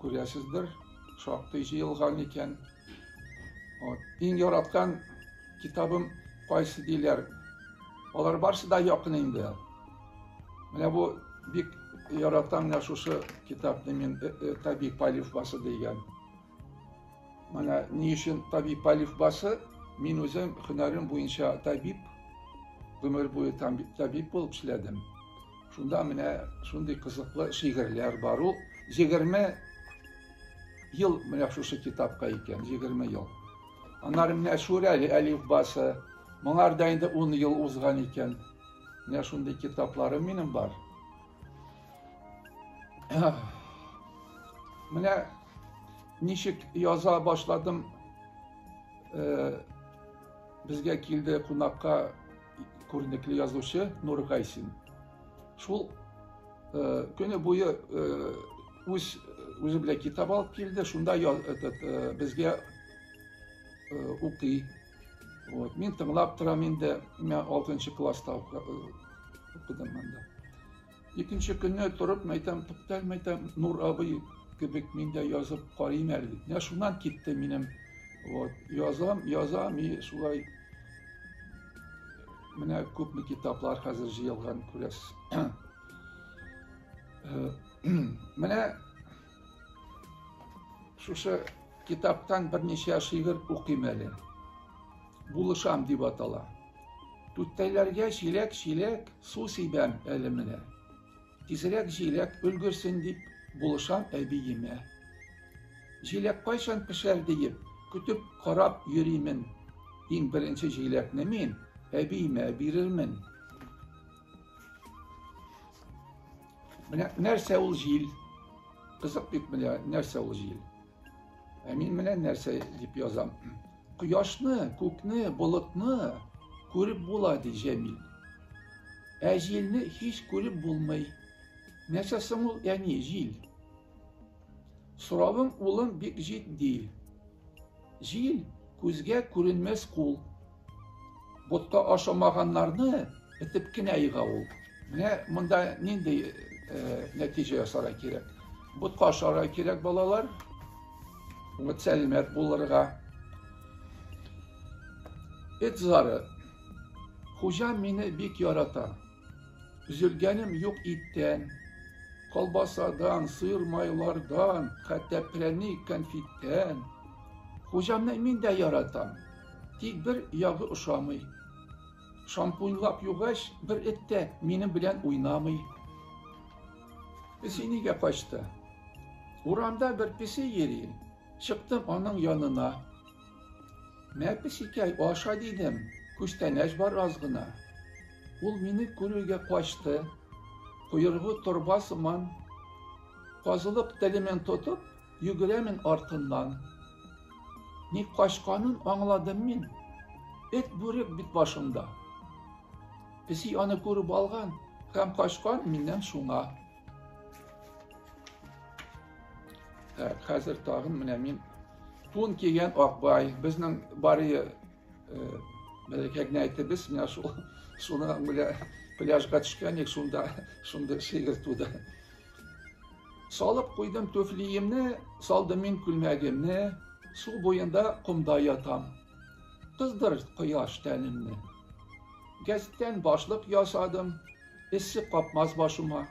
Күрәсездер, шактый җыелган икән. Вот. Иң яраткан китабым кайсы диләр. Алар барсы да якын инде. Менә бу бик яратам менә шушы китапны мин Табиб Алифбасы дигән. Менә ни өчен табиб Алиф башы, мин үзем һөнәрем буенча табиб, гомер буе табиб булып эшләдем. Шунда менә шундый кызыклы шигырьләр бар ул. 20 ел менә шушы китапка икән, 20 ел. Аннары менә Шүрәле Алиф башы, моңарда инде 10 ел узган икән. Менә шундый китапларым минем бар. Менә ничек яза башладым. Э, безгә килде кунакка күренекле язучы Нур Гайсин. Шул э, көне буе э, үз үзе белән китап алып килде, шунда этот, безгә укый, Вот. Мин тыңлап торам инде, мә 6 класста укыдым монда. Икенче көнне торып, мәйтәм, туктал, мәйтәм, Нур абый кебек мин дә язып карыйм әле. Менә шуннан китте минем. Вот. Язам, язам и шулай менә күпме китаплар хәзер җыелган күрәсез. Менә Шушы китаптан берничә шигырь укыйм әле. Булышам дип атала. Түттәйләргә чиләк-чиләк су сибәм әле менә. Тизрәк җиләк өлгерсен дип булышам әбиемә. Җиләк кайчан пешәр диеп, көтеп карап йөримен. Иң беренче җиләкне мин әбиемә бирермен. Менә нәрсә ул җил? Кызык бит менә нәрсә ул җил? Ә мин менә нәрсә дип язам. Кояшны, күкне, болытны күреп була ди Җәмил. Ә җилне һич күреп булмый. Нәрсә соң ул, әни, җил? Соравың, улым, бик җитди. Җил күзгә күренмәс кул. Ботка ашамаганнарны этеп кенә йыга ул. Менә монда нинди э, нәтиҗә ясарга кирәк. Ботка ашарга кирәк балалар. Үмет сәләмәт булырга. Эт зары. Хуҗа мине бик ярата. Өзелгәнем юк иттән, колбасадан, сыр майлардан, хәтта прәник, конфиттән. Хуҗамны мин дә яратам, тик бер ягы ошамый. Шампуньлап югач, бер эт тә минем белән уйнамый. Песи нигә качты? Урамда бер песи йөри, чыктым аның янына. Мәпесикәй, аша дидем, күчтәнәч бар аз гына. Ул мине күрергә качты, койрыгы торба сыман, казылык телемен тотып, йөгерәмен артыннан. Ни качканын аңладым мин. Эт бүрек бит башымда. Песи аны күреп алган һәм качкан миннән шуңа. Ә, хәзер тагын менә мин тун кигән Акбай, безнең барые мәләкәгенә әйтебез, менә шул шуны менә пляжга төшкән ек, шунда шундый шигырь туды. Салып куйдым түфлиемне, салдым мин күлмәгемне, су буенда комда ятам. Кыздыр кояш тәнемне. Гәзиттән башлык ясадым, Эссе капмас башыма.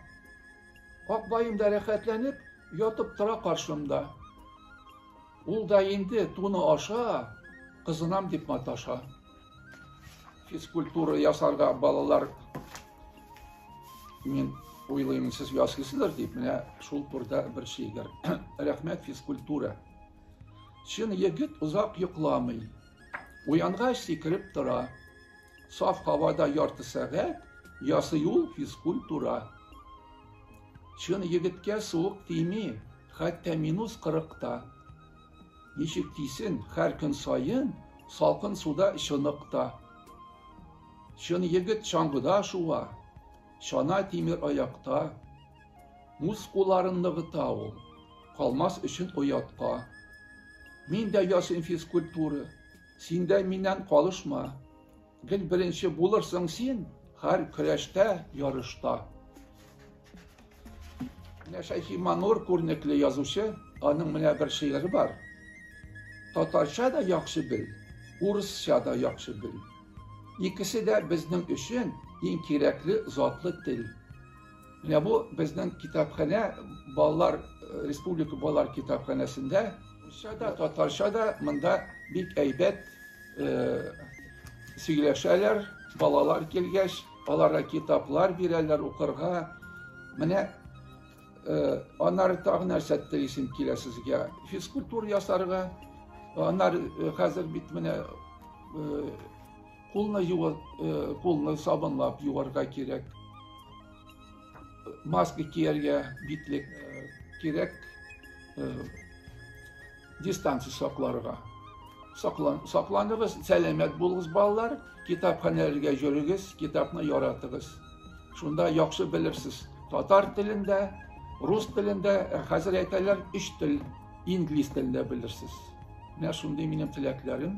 Акбаем да рәхәтләнеп, ятып тора каршымда. Ул да инде туны аша, кызынам дип маташа. Физкультура ясарга балалар мин уйлыйм, сез ясыйсыздыр дип, менә шул турда бер шигырь. Рәхмәт физкультура. Чын егет озак йокламый. Уянгач сикереп тора. Саф һавада ярты сәгать ясый ул физкультура. Чын егеткә суык тими, хәтта минус кырыкта. Ничек тисен, һәр көн саен салкын суда чыныкта. Чын егет чаңгыда шуа, чана тимер аякта. Мускулларын ныгыта ул, калмас өчен оятка. Мин дә ясыйм физкультура, син дә миннән калышма. Гел беренче булырсың син, һәр көрәштә, ярышта. Менә Шәйхи Манур күренекле язучы, аның менә бер шигыре бар. Татарча да яхшы бел, урысча да яхшы бел. Икесе дә безнең өчен иң кирәкле затлы тел. Менә бу безнең китапханә балалар э, республика балалар китапханәсендә русча да татарча да монда бик әйбәт э, сөйләшәләр балалар килгәч аларга китаплар бирәләр укырга менә э, аннары тагы нәрсә телисем килә сезгә физкультура ясарга аннары э, хәзер бит менә э, Кулны юар, э, кулны сабынлап юарга кирәк. Маска кияргә, битлек э, кирәк. Э, дистанция сакларга. Саклан, сакланыгыз, сәламәт булыгыз балалар, китапханәләргә йөрегез, китапны яратыгыз. Шунда яхшы белерсез. Татар телендә, рус телендә, ә хәзер әйтәләр, өч тел, инглиз телендә белерсез. Менә шундый минем теләкләрем.